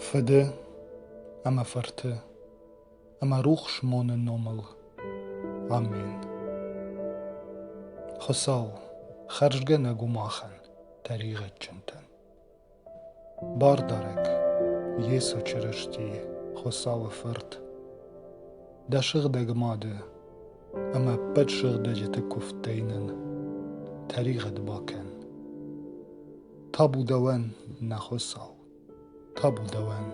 Фыды ӕмӕ фырты ӕмӕ рухс моны номыл. Амен. Хуыцау, хӕрзгӕнӕг у махӕн, тӕригъӕдджынтӕн. Бардарӕг, Йесо Чырыстийы, Хуыцауы Фырт, дӕ сыгъдӕг мады Ӕмӕ ӕппӕт сыгъдӕджыты куывдтӕй нын тӕригъӕд бакӕн. Табу дӕуӕн, нӕ Хуыцау, табу дӕуӕн!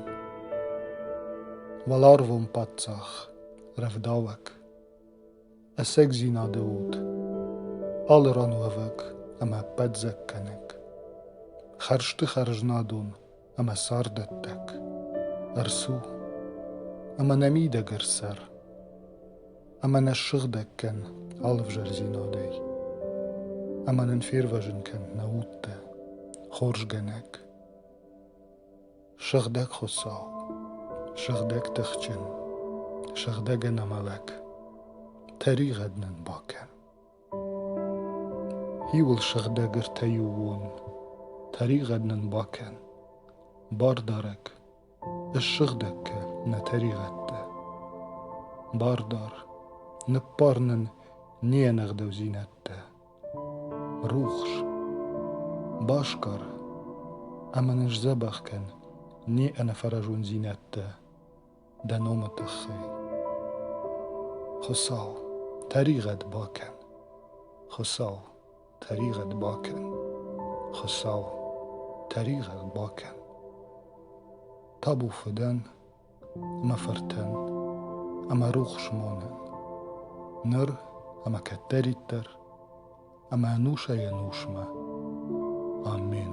Уӕларвон паддзах, рӕвдауӕг, ӕцӕгдзинады уд, алы ран уӕвӕг ӕмӕ ӕппӕт дзӕгкӕнӕг, хӕрзты хӕрзнадон ӕмӕ цардӕттӕг ӕрцу ӕмӕ нӕ мидӕгӕр цӕр ӕмӕ нӕ ссыгъдӕг кӕн алывзӕрдзинадӕй ӕмӕ нын фервӕзын кӕн нӕ удтӕ хорзгӕнӕг сыгъдӕг хуыцау сыгъдӕг тыхджын сыгъдӕг ӕнӕмӕлӕг тӕригъӕд нын бакӕн Иуыл сыгъдӕг ӕртӕйы уон, Тӕригъӕд нын бакӕн, бардарӕг, Ссыгъдӕг кӕ нӕ тӕригъӕдтӕ. Бардар, ныббар нын не нӕгъдӕудзинӕдтӕ. Рухс, басгар ӕмӕ нын сдзӕбӕх кӕн не ӕнӕфӕразондзинӕдтӕ. дӕ номы тыххӕй. Хуыцау, тӕригъӕд бакӕн. Хуыцау, тӕригъӕд бакӕн. Хуыцау, тӕригъӕд бакӕн. Табу фыдӕн, мӕ фыртӕн ӕмӕ рухс монӕн, ныр ӕмӕ кӕддӕриддӕр ӕмӕ ӕнусӕй-ӕнусмӕ. Амен.